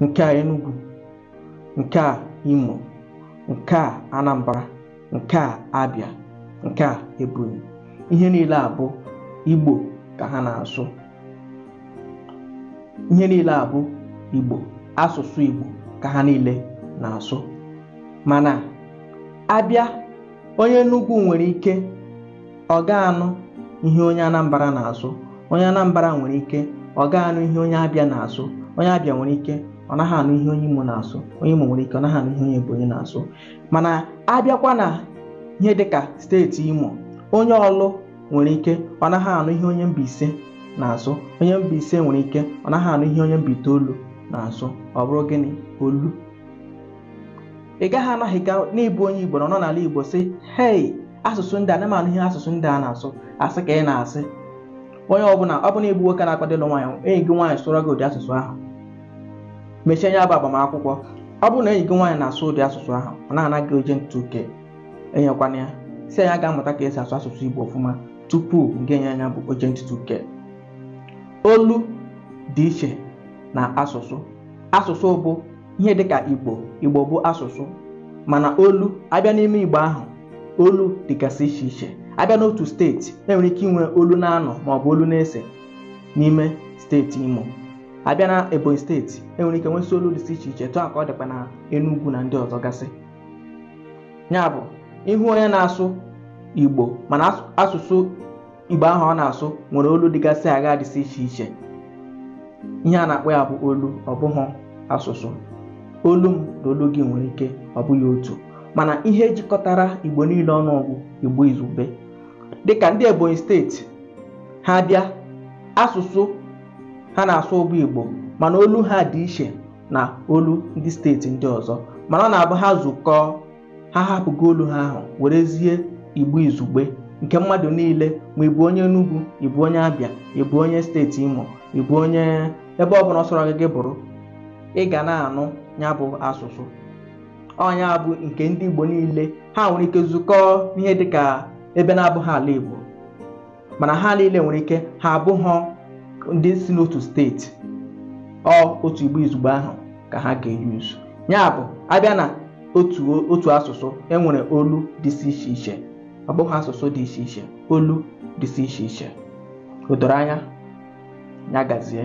nke a Enugu nke a Imo nke a Anambra nke a Abia nke a Ebonyi ihe niile a bụ Igbo ka ha na-asụ ihe niile a bụ Igbo asụsụ Igbo ka ha niile na-asụ mana abịa onye Enugu nwere ike ọ ga-anụ ihe onye Anambra na-asụ onye Anambra nwere ike ọ ga-anụ ihe onye Abia na-asụ onye Abia nwere ike ọ naghị anụ ihe onye Imo na-asụ onye Imo nwere ike ọ naghị anụ ihe onye Ebonyi na-asụ mana abịakwa na ihe dịka steeti Imo onye Ọlụ nwere ike ọ naghị anụ ihe onye Mbaise na-asụ onye Mbaise nwere ike ọ naghị anụ ihe onye Mbaitoolu na-asụ ọ bụrụ gịnị olu ị gaghị anaghị ga na ị bụ onye Igbo nọ n'ala Igbo sị hei asụsụ ndị a na m anụ ihe asụsụ ndị a na-asụ asị ka ị na-asị onye ọbụla ọ bụrụ na ị bụ nwoke na-akwado ịlụ nwaanyị enyi gị nwaanyị sụrụ gị ụdị asụsụ ahụ mechie nya bụ agbamakwụkwọ ọ bụrụ na enyi gị nwaanyị na-asụ ụdị asụsụ ahụ ọ na-ana gị urgent two k enyekwana ya sị ya gaa mụta ka esi asụ asụsụ Igbo ọfụma tupu gị enye ya nya bụ urgent two k olu dị iche na asụsụ asụsụ bụ ihe dịka igbo igbo bụ asụsụ mana olu abịa n'ime igbo ahụ olu dịgasị iche iche abịa n'otu steeti enwere ike inwe olu n'anọ maọbụ olu n'ise n'ime steeti imo abịa na ebonyi steeti enwere ike nwesị olu dịsị iche iche otu ahụ ka ọ dịkwa na enugwu na ndị ọzọ gasị ya bụ ị hụ onye na-asụ igbo mana asụsụ Igbo ahụ ọ na-asụ nwere olu dịgasị agha dịsị iche iche ihe a na-akpọ ya bụ olu ọ bụghị asụsụ olu m na olu gị nwere ike ọ bụghị otu mana ihe jikọtara Igbo niile ọnụ bụ Igbo izugbe dịka ndị Ebonyi steeti ha bịa asụsụ ha na-asụ bụ Igbo mana olu ha dị iche na olu ndị steeti ndị ọzọ mana ọ na-abụ ha zukọọ ha hapụgo olu ha ahụ werezie igbo izugbe nke mmadụ niile ma ị bụ onye Enugu ị bụ onye Abia ị bụ onye steeti Imo ị bụ onye ebe ọbụla ọ sọrọ gị gị bụrụ ị ga na-anụ ya bụ asụsụ ọ nya bụ nke ndị Igbo niile ha nwere ike zukọọ n'ihe dịka ebe na-abụghị ala Igbo mana ha niile nwere ike ha abụghọ ndị si n'otu steeti ọ otu igbo izugbe ahụ ka ha ga-eyuzu ya bụ abịa na otu asụsụ enwere olu dịsị iche iche ọ bụghị asụsụ dị iche iche olu dịsị iche iche o doro anya ya gazie